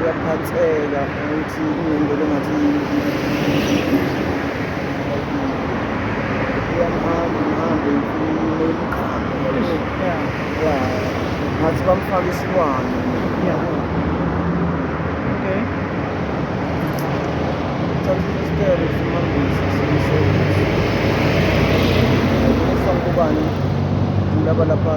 uyaphatheka ukuthi kunento lengathi uyamhamba mhambe ngathi bamfake isilwane okay thatha isicelo simambisi semsebenzi ubani laba lapha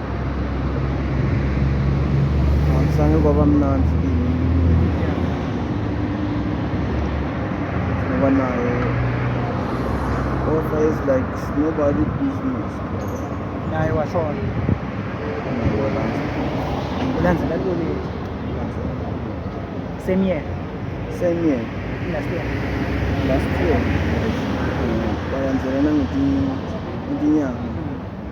Sange kwaba mnandi kimi ngoba nayo Ofa is like nobody business naye washona ulandzela ntoni same year same year last year last year balandzela nangetinye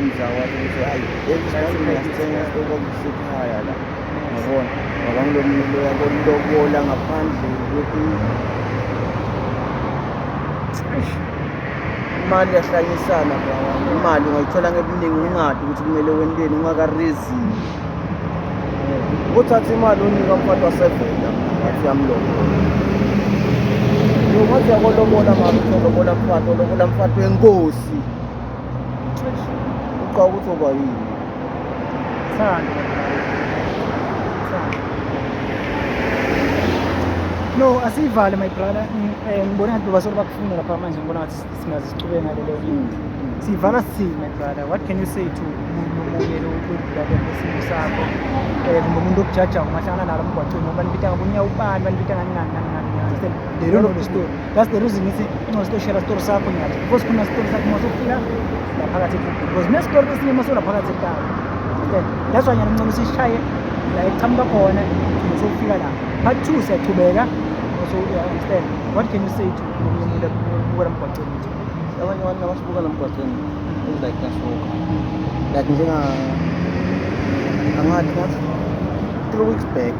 Inja wathi ukuthi hayi ekusithenga isitoko sikhaya la ngabona ngoba ngilomile yabona lokubola ngaphandle ukuthi imali yahlanyisana brawana imali ungayithola ngebuningi ungadi ukuthi kumele wenteni ungakarezini uthatha imali unika umfana wasevenda ngathi yamlobola ngathi yakolobola mama uzolobola mfana olobola mfana wenkosi uqala ukuthi oba yini thando no asiyivale my brother eh, ngibona ngathi bebasolo bakufuna lapha manje ngibona ngathi singaze sichube ngalelo mm. siyivala sithini my brother what can you say to umuntu obuye lokudlala ngesimo sakho eh kumbe umuntu okujajayo ungahlangana nalo mgwaqeni ngoba nibita ngabunye ubani banibita ngani ngani ngani ngani lelo story That's the reason ngithi incono sitoshela story sakho nyathi because khona story sakho uma sokufika laphakathi ekhukhu because ne story esinye uma solaphakathi ekhaya that's why nyana ncono sishaye la eqhamuka khona sokufika la part 2 siyaqhubeka so you understand what can you say to umuntu obukela mgwaqeni abanye abantu abasibuka la mgwaqeni is like nasoka like njenga angathi ngathi three weeks back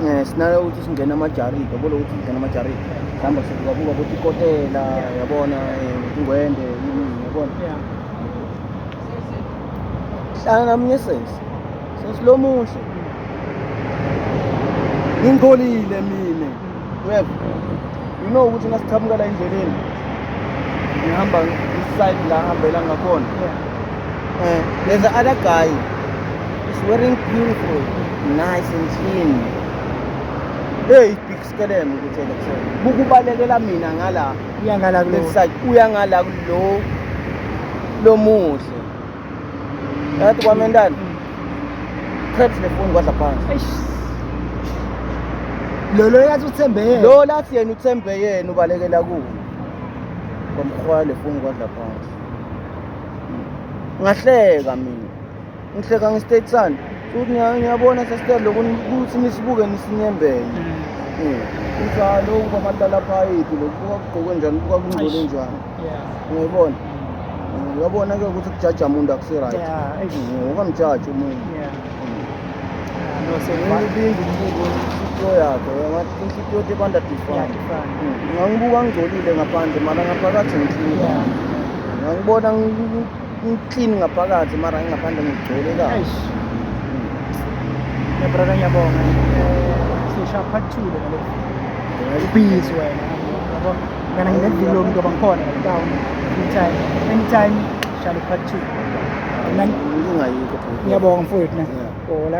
Eh, sinalo ukuthi singena amajaridi yabona ukuthi singena amajaridi mhlawumbe sikukabuka ukuthi ikotela yabona eh, ingwende yini yabona hlala namunye sesi sesi lo muhle ngingcolile mina uyeva you know ukuthi nasiqhamuka la endleleni ngihamba iside la hambela ngakhona eh there's the other guy is wearing beautiful nice and clean hey big skelem ukuthi election bukubalekela mina ngala uyangala kulo uyangala kulo lomuhle Yathi kwamentana. Crabs nefoni kwadla phansi. Eish. Lo lo yathi uthembe yena. Lo lathi yena uthembe yena ubalekela kuwo. Kwamkhwaya lefoni kwadla phansi. Ngahleka mina. Ngihleka ngestate sani. Futhi niya- niyabona sesithe lokhu ukuthi nisibuke nisinyembele. Mm. Kunjalo ukuba amadala phayiphi lokubuka kugqoke njani, kubuka kungcole Eish. njani. uyayibona uyabona ke ukuthi kujaja umuntu akusi-right ukamjaji umuntu ibinza umbuko inhliziyo yakhe ngathi inhliziyo tebanda different ngangibuka ngigcolile ngaphandle mara ngaphakathi ngihlula ngangibona ngiklini ngaphakathi mara ngingaphandle ngigcole kahle yabrada ngiyabonga sisha part two le ngale ubhizi wena Ngana nginevilo mntu bangikhona down anytime anytime shall part 2. Ngiyabonga mfowethu na. Hola.